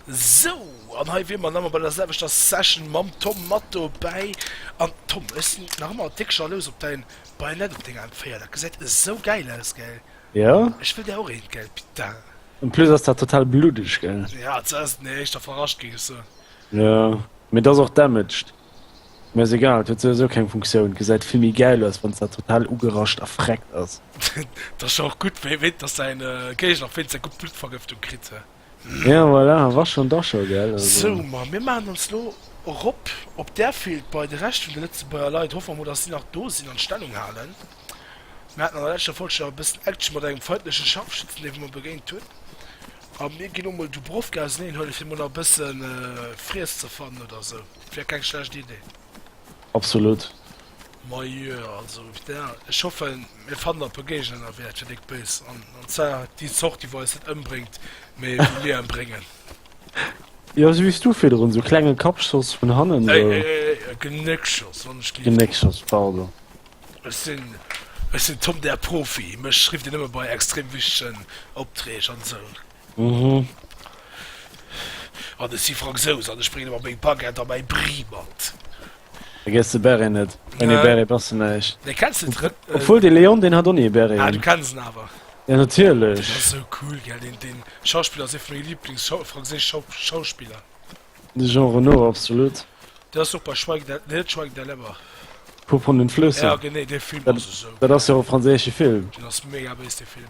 Sou, an hei wier mer nach emol bei der selwechter Session mam Tom mat dobäi. An Tom, ech sinn nach ëmmer déck jalous op däin Bajonett op denger M4. Dat gesäit esou gäil aus, gell? Jo. Ech wëll där och eent, gell, putain. En plus ass dat total bluddeg, gell? Jo, et ass den éischter verrascht, géing ech soen. Jo, mee et ass och damaged. Mir ass egal, et huet souwisou keng Funktioun, gesäit vill méi gäil aus wanns dat total ugerascht a freckt ass. Dat ass jo och gutt, wéi wéit dass säin Géigner fillt, säi Gutt Bluttvergëftung kritt, he? Ja voilà, Wascher und Ascher, gell also. Sou, ma mir maachen ons lo erop op d'Airfield bei de Rescht vun de Lëtzebuerger Leit. Hoffe mer mol, dass si nach do sinn an d'Stellung halen. Mir haten an der leschter Folg scho e bëssen Action mat engem feindleche Scharfschützen, deem mir begéint hunn. A mir ginn elo mol Dubrovka auseneen huelen, fir mol nach e bësse Friess ze fannen oder esou. Wär keng schlecht Idee. Absolut. Majo, also ech hoffen, mir fannen nach e puer Géigner ënnerwee, dat wär déck béis. An zwar déi Zort, déi eis net ëmbréngt, mä déi mir ëmbréngen. Jo, esou wéi du virdrun, esou klenge Kappschoss vun hannen. Genéckschoss, wann ech géif. Genéckschoss, pardon. Ech sinn ech sinn Tom der Profi, mech rifft een nëmme bei extrem wichtegen Opträg an esou. An ech si Fransous an ech bréngen ëmmer meng Baguette a mäi Brie mat. Vergiess de Beret net. Ouni e Beret bass de näischt. Nee, kenns de den? Obwuel, de Léon, deen hat ouni e Beret un. Ah, du kenns en awer. Jo, natierlech. Deen ass esou cool, gell? Deen Schauspiller ass ee vun menge Lieblings-franséisch Schauspiller. De Jean Reno, absolut. Dat ass super, schweig dat, nee, schweig dat lebber. Vu von den Flüssen. Ja, genee, dee Film dat, ass esou. Dat ass jo e franséische Film. Den ass mega béis, dee Film.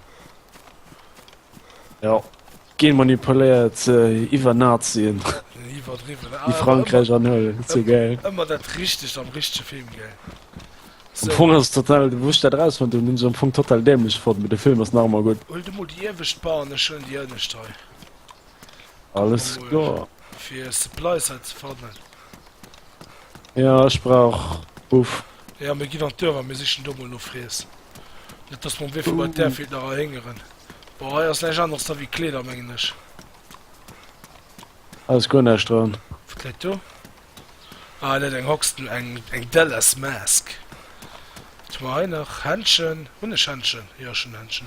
Ja, genmanipuléiert äh, iwwer Nazien. Iwwerdriwwen. Ah, Déi Frankräich anhuelen, dat ass jo gäil. Ëmmer dat Richtegt am richtege Film, gäil. Am Fong ass et total, wou ech dat erausfonnt hunn, hunn ech et am Fong total dämlech fonnt, mee de Film ass nach ëmmer gutt. Huel du mol déi iewescht Bar an ech huelen déi ënnescht hei. Alles klar. Fir Supplies hei ze fannen. Ja, ech brauch Buff. Ja, mir ginn an d'Dörfer, mir sichen do mol no Friess. Net, dass mer um Wee vu bei d'Airfield nach erhéngeren. Boah, hei ass näischt aneres da wéi Kleeder, mengen ech. Hei ass guer näischt dran. Wat läit do? Ah, net eng Hoxton, eng, eng Dallas Mask. Wat hu mer hei nach? Händchen. Hunn ech Händchen? Jo, ech hunn Händchen.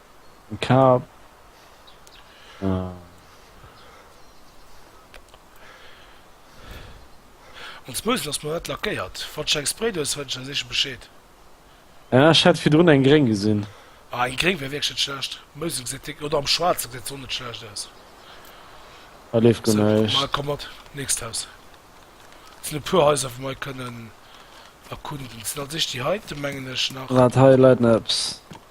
Kap. Äh. An Smooth lass mer dat lackéiert. Wann du eng Spray do hues, fräen ech eis éische Bescheed. Ja, ech hat virdrun eng gréng gesinn. Ah, eng gréng wär wierklech net schlecht. Mousse gesäit déck, oder am Schwaarze gesäit se och net schlecht aus. Da leeft guer So, näischt. mal komm mat. Nächst Haus. Et sinn e puer Häuser, wou mer kënnen erkunden. Et sinn als éischt déi heiten, mengen ech, nach. Wat, hei läit neps.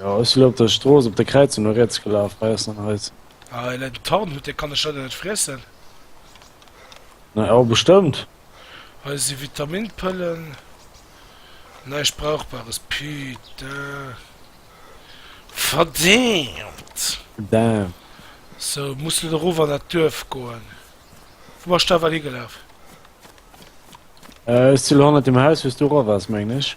Jo ech si lo op der Strooss op der Kräizung no riets gelaf hei ass dann Häus. Ah en en Tarn hutt, dee kann ech leider net friessen. Na jo bestëmmt. Hei si Vitaminpëllen, näischt brauchbares, putain verdämt. Damn. So muss elo erof an dat Duerf goen. Wou bass de awer higelaf? Ech si lo hannert dem Haus wou s du erof bass mengen ech.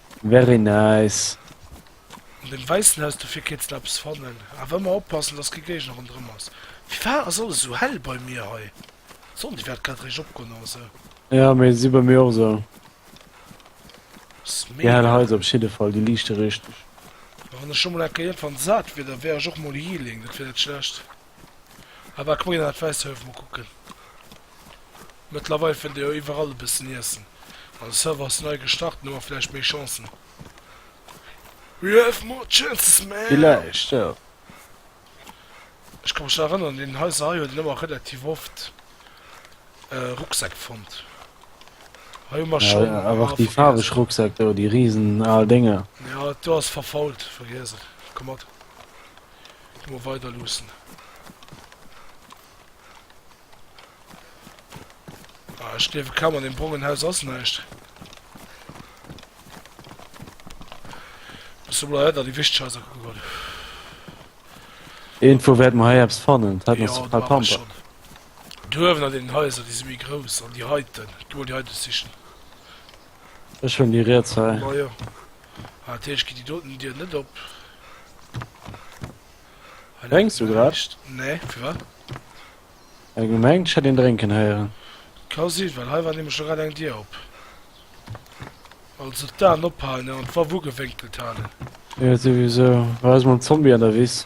Very nice. An dem weissen Haus dofir kéins de eppes fannen. Awer ëmmer oppassen dass kee Géigner ronderëm ass. Firwat ass alles esou hell bei mir hei? D'Sonn déi wärt grad réischt opgoen oder sou. Ja mee si bei mir och esou. Ass Déi hell mega. Haiser op jidde Fall, déi liichte richteg. Wann ech lo mol enker iergendwann sat wier da wär ech och mol healing, dat wier net schlecht. Awer komm ginn an dat wäisst Houff mol kucken. Mëttlerweil fënnt ee jo iwwerall e bëssen Iessen. An de Server ass nei gestart, nu hu mer vläicht méi Chancen. We have more chances, man! Villäicht, jo. Ech ka mech nach erënneren, an deenen Haiser hei huet een ëmmer relativ oft Rucksäck fonnt. Hei hu mer schonn, ah, vergiess et. Awer och déi faarweg Rucksäck do, déi risen al Dénger. Jo, do ass verfault, vergiess et. Komm mat. Elo mol weider luussen. Ah, ech gleewe kaum an dem brongen Haus ass näischt. Bis mol hei da déi wichteg Häuser kucke goen. Irgendwo wäert mer hei eppes fannen. Dat ass Ja, total da war ich Pamper. schon. Duerwen an den Häuser, déi si méi grouss. An déi heiten. Geh mol déi heiten sichen. Ech hunn déi riets hei. Majo. Ah, dat heescht, gitt déi doten Dier net op. Hei läit Drénks du grad? näischt. Nee, firwat? Ech gemengt, ech hätt een drénken héieren. Ka sinn, well hei war nämlech lo grad eng Dier op. Also d'Aen ophalen an d'Waff ugewénkelt halen. Jo, souwisou. War eis mam Zombie an der Wiss.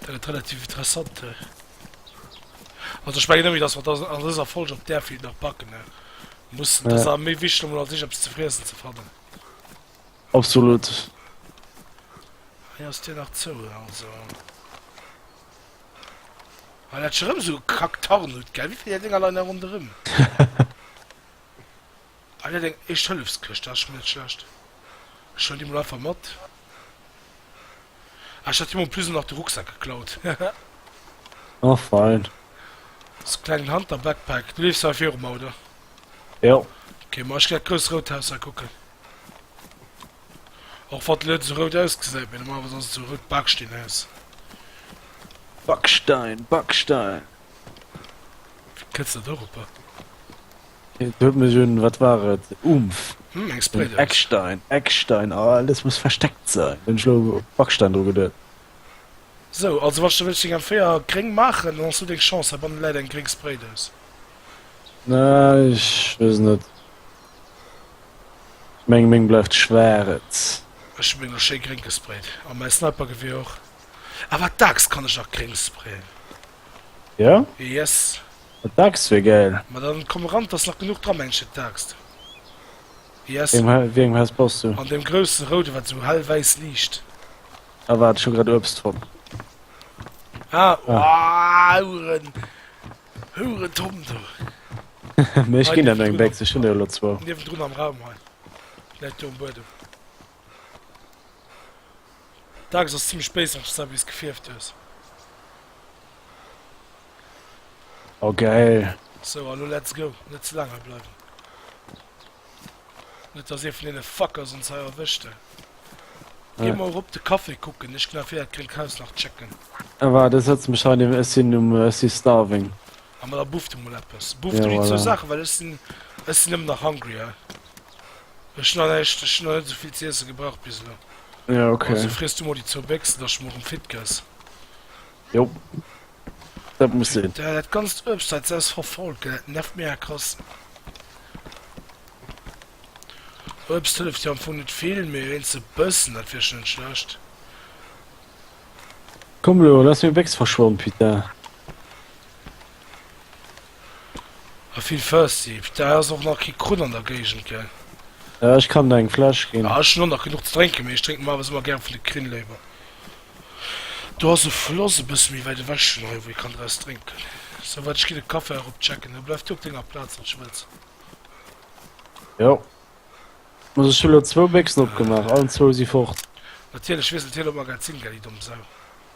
Dat gëtt relativ interessant hei. Also ech mengen nëmme dass mer an dëser Folge op där Film nach backen ne muss ja. dass a méi wichteg emol an sech eppes ze friessen ze fannen. Absolut. Hei ass Dir nach zou also. Hei dat schon erëm so kackt Tarn huet gell, wéi vill Dinger leien da ronderëm? Hei läit eng Éischt-Hëllefs-Këscht, dat ass schonn net schlecht. Ech huelen déi mol einfach mat. Ah, ech hat him en plus och nach de Rucksak geklaut. Oh fein. Ass e klengen Hunter-Backpack. Du leefs hei virum, oder? Jo. Okay, ma ech ginn dat grousst rout Haus hei kucken. Och wann et elo net esou rout ausgesäit, mee normalerweis ass et esou e rout Baksteenhaus. Bakstein, Bakstein. Wéi kënns de da dorobber? Huet mech un wat war et Umf hm, Eckstein Eckstein oh, ah, alles muss versteckt sein den Schlo Backstein dro gedet. So also was du willst den Féier gréng machen, dann hast du deng Chance hei bannen läit eng gréng Spray Dous. Na ich wees net. Ich meng meng bleift schwaarz. Ech hun meng lo schéi gréng gesprayt a mäi Snipergeweer och. Awer d'Aaxt kann ech nach gréng sprayen. Ja? Yes. Eng Dachs wär gäil. Ma dann komm eran, t'ass nach genuch dra, Männchen, d'Dachs. Yes. Wéi engem Haus bass du? An deem groussen rouden, wat esou hell wäiss liicht. Ah, waart, ech hu grad Uebst fonnt. Ah, oh, Huren, Hurentom do. Mee ech ginn der no eng Béchs, ech hunn der elo zwou. Niewendrun am Raum hei, läit do um Buedem. D'Axt ass zimlech béis an Schzar wéis gefierft hues. Oh geil. Sou a lo let's go, net ze laang hei bleiwen. Net dass ee vun deene Fuckers ons hei erwëscht he. Gi mol rop de Café kucken, ech gin erfir dat gréngt Haus nach checken. Ah waart, ech sëtze mech hei niewent, ech sin um, ech si starving. Ah ma da buff du mol eppes. Buff du déi zwou Saachen, well ech sin, ech sin ëmmer nach hungry he. Ech na näischt, ech hun na net esou vill z'iessen gebraucht bis elo. Ja ok. Also friess du mol déi zwou Béchsen, dass du morem fit gëss. Jo, dat muss sinn. Putain, dat ganzt Uebst hei, s'aus verfault, gell, dat nervt mega krass. Uebst hëlleft jo am Fong net vill, mee wéinst e bëssen, dat wier schon net schlecht. Komm elo, lass meng Béchs verschwannen, putain. A vill First Seep. Daer ass och nach kee Krunn an der Géigend, gell? Ja, ech kann der eng Fläsch ginn. Ah, ech hunn och nach genuch ze drénken, mee ech drénken normalerweis ëmmer gäre vun de Krinn léiwer. Do ass e Floss e bësse méi wäit ewech vun hei, wou ee kann draus drénken. Sou, waart, ech ginn e Café erop checken. Hei, bleif du op denger Plaz, wann s du wëlls. Jo. Muss ech hu lo zwou Béchsen opgemaach, allen zwou si fort. Natierlech wiesselt hien op Magazin, gell, déi domm Sau.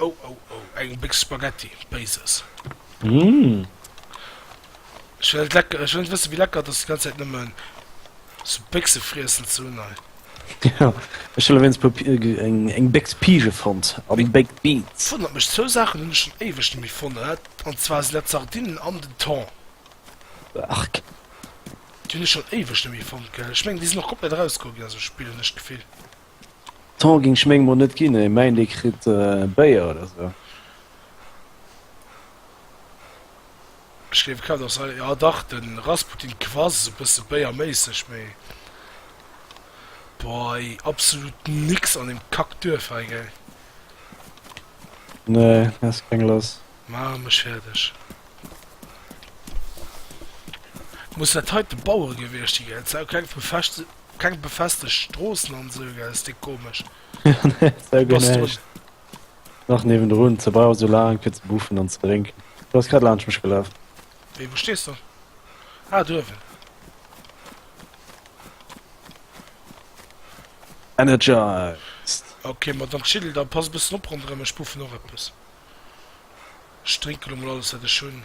Oh oh oh, eng Béchs Spaghetti, Béises. Mmh. Ech well lecker, ech well wëssen wéi lecker et ass déi ganz Zäit nëmmen sou Béchse friessen ze hunn hei. Ja, ech hunn ewéinst puer eng eng Béchs Pige fonnt an Baked Beans. Wonnert mech, zwou Saachen hunn ech schon éiweg nemmi fonnet an zwar sinn dat Sardinen an den Thon. Arg. Déi hunn ech schon éiweg nemmi fonnt gell. Ech mengen déi sinn och komplett eraus goe ginn aus dem Spill hunn ech d'Gefill. Temps ging ech meng mol net ginn, ee meint ee kritt Béier oder sou. Ech gleef kaum dass hei, jo dach den Rasputin quass esou bësse Béier méisseg mee boah ey absolut nix an dem Kack Duerf hei gell. Nee has keng lass. Maache mech fäerdeg. Muss dat heiten d'Bauere gewierscht si gell, se hu keng vu Fecht. Keng befestegt Stroossen an sou gell, ass déi komesch. Jo nee, sou gin ech nach niewendrun, ze brauch sou laang fir ze buffen an ze drénken. Du ass grad laanscht mech gelaf. Wéi, wou stees de? Ah, duerwen. Energized. Ok, ma dann chill da, pass e bëssen op ronderëm, ech buffen och eppes. Ech drénke lo mol alles wat ech hunn.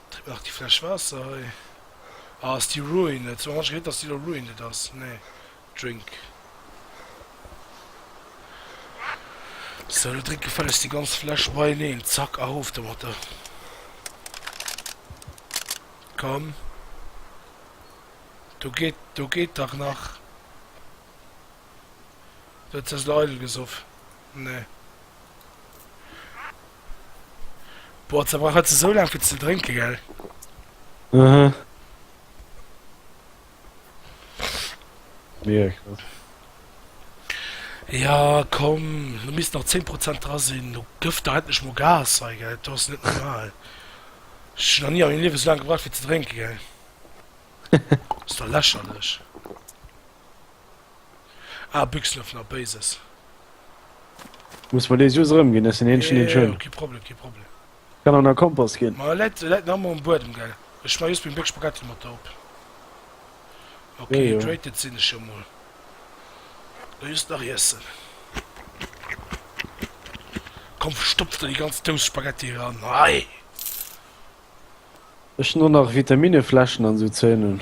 Trip nach déi Fläsch Waasser hei. Ah ass déi ruined? Soen ech gehéiert dass déi elo ruined ass? Nee drink. Sou lo drink gefällegst déi ganz Fläsch beieneen, zack erof domat der. Komm do geet do geet dach nach. Du hues ze eidel gesoff. Nee. Boah, ze brauch hat ze sou lang fir ze drénke gell. Mhm. Mega krass. Ja komm, du misst nach 10 Prozent dra sinn, du gëff der endlech mo Gas hei gell, du ass net normal. Ech nach nie an mengem Liewe sou lang gebraucht fir ze drénke gell. Ass der lächerlech. Ah Büxlöff na Béises. Muss mer dee just erëm gin, ech sin eenschen deen schon. Kee Problem, kee Problem. Kann och na Kompost gin. Ma läit läit nach emol um Buedem gell. Ech schmei just meng Béck Spaghetti mat der op. Ok hydrated sin ech jo mol. Lo just nach iessen. Komm verstopf der déi ganz Dous Spaghetti eran hei. Ech hun och nach Vitaminne Fläschen an sou Zeunen.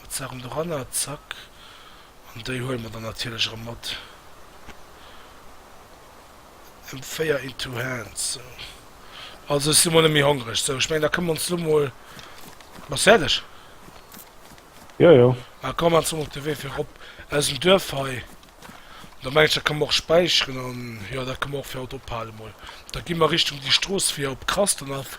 Mat Saachen doranner, zack. An déi huele mer dann natierlech erëm mat. M4 in two hands, sou. Also ech si mol net méi hongreg. Sou, ech mengen da kënne mer ons elo mol. Bass fäerdeg? Jo, jo. Da komme mer elo mol op de Wee fir erop aus dem Duerf hei. Da mengen ech da kënne mer och späicheren an jo da kënne mer och fir haut ophale mol. Da gi mer Richtung déi Strooss fir op Krastenhaff.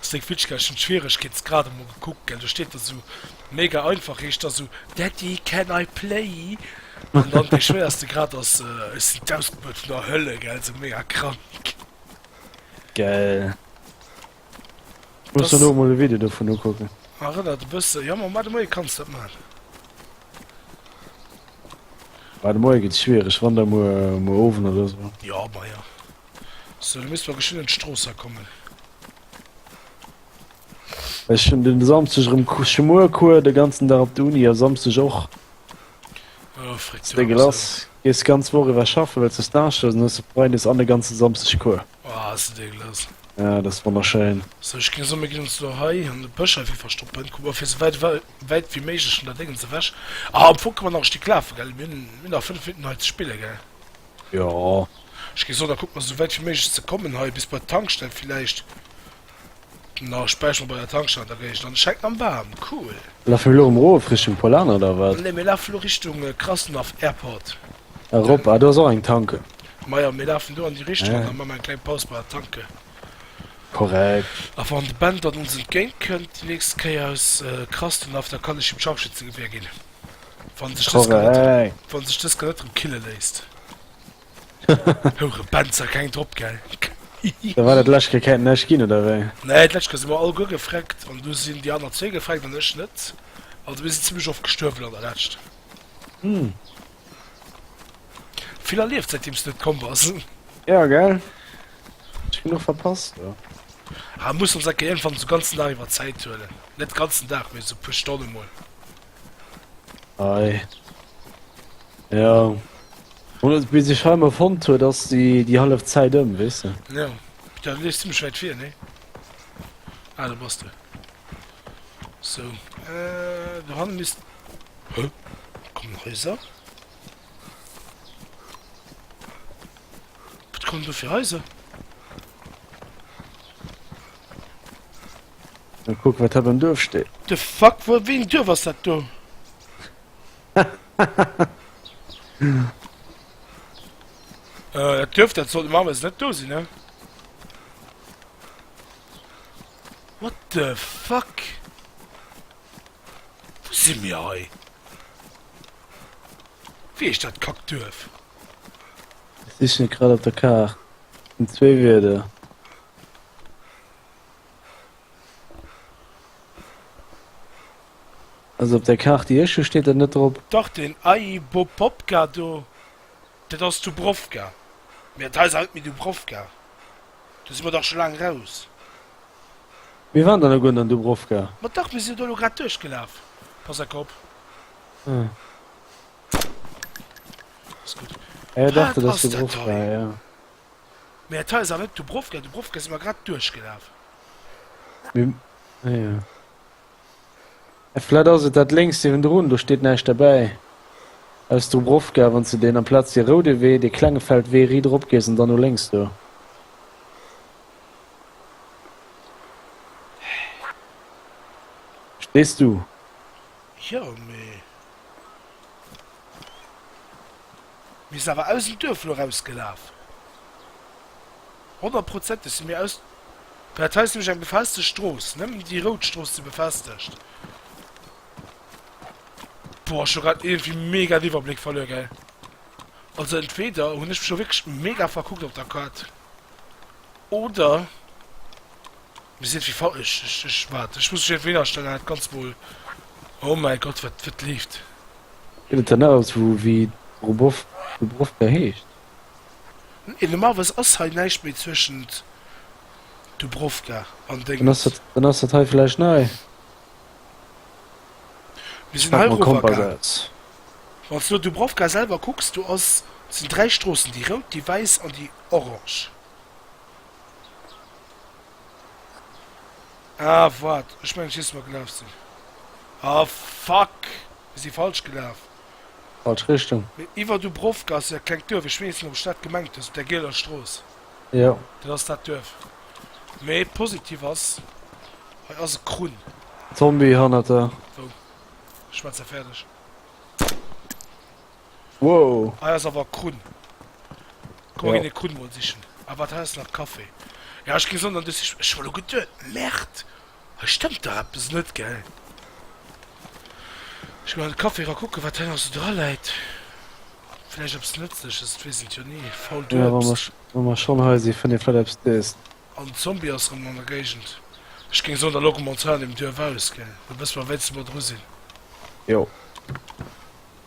Seng Fitschkech hun Schwieregkeetsgrad emol gekuckt gell, do steet da sou mega einfach, heescht da sou Daddy can I play? An dann dee schwéierste Grad ass Ech sin d'Ausgebuert vun der Hölle gell, sou mega krank. Geil. Ech muss mer lo emol e Video dovun ukucken. Erënnert e bëssen, jo mam Ade Moie kanns dat man. Ade Moie gëtt schwiereg, wann da muer muer Owend oder sou. Jo, majo. So du misst mer geschwind un d'Strooss hei kommen. Ech hun den Samsteg rem Cou- Schmuercours de ganzen Dag op der Uni a Samsteg och. Oh Fritz, hör De op, ass Gelass, dat- gees d'ganz Woch iwwer schaffen, wells de Stage hues an hues de Freides an de ganze Samsteg Cours. oh, ass dat ekelos. Ja, dat ass wonnerschéin. So ech ging so mir gin ons lo hei an de Bësch hei fir verstoppen, kuck mer fir sou wäit wei wäit wéi méiglech vun der Déngens ewech. Ah am Fong kann mer nach e Stéck lafen, gell? Mir hun mir hun nach 5 Minutten hei ze spillen, gell? Jo, ech gi so, da kucke mer sou wäit wéi méiglech ze kommen hei bis bei d'Tankstell villäicht. Na, ech bäiche mer bei der Tankstell an der Géigend an. Et schengt am Waarm, cool. Laffe mir elo erëm erof Richtung Polana oder wat? Nee, mir lafe elo Richtung Krasnov Airport. Erop, ah do ass och eng Tanke. Majo, mir lafen do an déi Richtung an da maache mer eng kleng Paus bei der Tanke. Korrekt. A wann de Ben dann ons entgéint kënnt déi nächst Kéier aus Krasnov, da kann ech him d'Scharfschützegewehr ginn. Wann sech dës Skelett, Korrekt. wann sech dës Skelett rem kille léisst. Houre Benzer, keng drop, gell? Da war dat lech ke Käit näischt ginn, oder wéi? Nee, d'lescht Kéier si mer alleguer gefreckt an du sinn déi aner zwee gefreckt an ech net. Also mir sinn zimmlech oft gestuerwen an der Lescht. Hm. Vill erlieft säitdeem s du net komm bass. Ja, gell? Ech genuch verpasst, du. Ah, muss ons enke iergendwann esou ganzen Dag iwwer Zäit huelen. Net ganzen Dag, mee esou puer Stonne mol. Ei. Ja. Oder bis ich heim erfund hue, dass die die half Zeit ëm wisse. Ja da liest du Bescheid fir ne ah, da bas du so äh, du han mis kom nach Häuser kommt du fir Häuser. Mal kucken, wat hei beim Duerf steet. The fuck, wou, wéi en Duerf ass dat do? Äh, dat Duerf, dat sollt normalerweis net do sinn, ne? What the fuck? Wou si mir hei? Wéi heescht dat Kackduerf? Sichen grad op der Kaart. Sinn zwee Wierder. Also op der Kaart déi ech hu steet dat net drop. Dach den Ayi Bopopka do, dat ass Dubrovka, mee dat hei ass awer net méi Dubrovka, do si mer dach scho laang eraus. Mir waren der nach guer net an Dubrovka. Ma dach, mir sinn do elo grad duerchgelaf, pass a Kopp. Ah. Ass gutt. Ah jo dach, dat ass Dubrovka, jo. Mee dat hei ass awer net Dubrovka, Dubrovka si mer grad duerchgelaf. Naja. Vläit ass et dat lénkst niewendrun, do steet näischt derbäi. Aus Dubrovka, wann s de deen amplaz dee roude Wee, dee klenge Feldwee ridderop gees an dann no lénks do. Verstees du? Jo, mee. Mir si awer aus dem Duerf lo rausgelaf. Honnertprozenteg si mir aus. Well dat hei ass nämlech eng befestegt Strooss. Nëmmen déi rout Strooss si befestegt. Boah, ech hu grad iergendwéi mega den Iwwerbléck verluer, gell. Also entweder hunn ech mech lo wierklech mega verkuckt op der Kaart, oder. Mir sinn wéi ech ech ech wat ech muss mech iergendwou hin astellen an dat Ganzt mol oh mäi Gott wat wat leeft. Gëtt et dann nach eppes wou wéi d'Brobow Dubrovka heescht? N ee normalerweis ass hei näischt méi zwëschent Dubrovka an Dann ass Dénges. dat dann ass dat hei vläicht nei. Mir Ech sinn pak hei mol erover Kompass gaangen. aus. Wann s du no Dubrovka selwer kucks, do ass sinn dräi Stroossen, déi rout, déi wäiss an déi orange. Ah wat, ech mengen ech wees wou mer gelaaf sin. Ah fuck, mir si falsch gelaaf. Falsch Richtung. Mee iwer Dubrovka ass jo dat klengt Duerf, ech wees net op ech dat gemengt hun, mat der gieler Strooss. Jo. Dat ass dat Duerf. Mee positiv ass, hei ass e Krunn. Zombie hannert der. Wou? Ech schmetzer färdeg. Wow. Hei ass awer Krunn. Komm mer ginn ee Krunn mol sichen. Ah wat, hei ass nach Café. Jo ech gi soen dann duerch. Ech war lo geduet, Merde, hei stëmmt dach eppes net, gell. Ech ginn an de Café ra kucken wat hei nach esou dra läit. Vläicht eppes Nëtzleches, et weess een et jo ni. Fault Uebst. Jo wa mer schonn hei si fënnt ee vläicht eppes Dëst. Oh den Zombie ass erëm an der Géigend. Ech géing soen da logge mer ons hei an deem Duerf aus, gell. Da wësse mer wéinst wou mer dru sinn. Jo.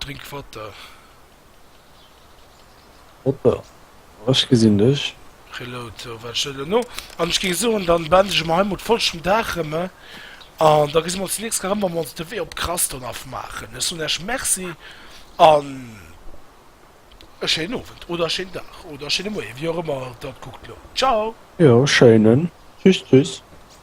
Drink water. Water oh ech gesinn dech. Reload sou wat ech elo no an ech géing soen dann beendege mer heimol d'Folg vum Dag rem an da gesi mer ons déi nächst Kéier rem wa mer ons de Wee op Kraston afmaachen. Ech soen iech Merci an e schéinen Owend oder e schéinen Dag oder e schéine Moie wéi och ëmmer der et kuckt elo. Ciao. Jo schéinen. Tschüss tschüss.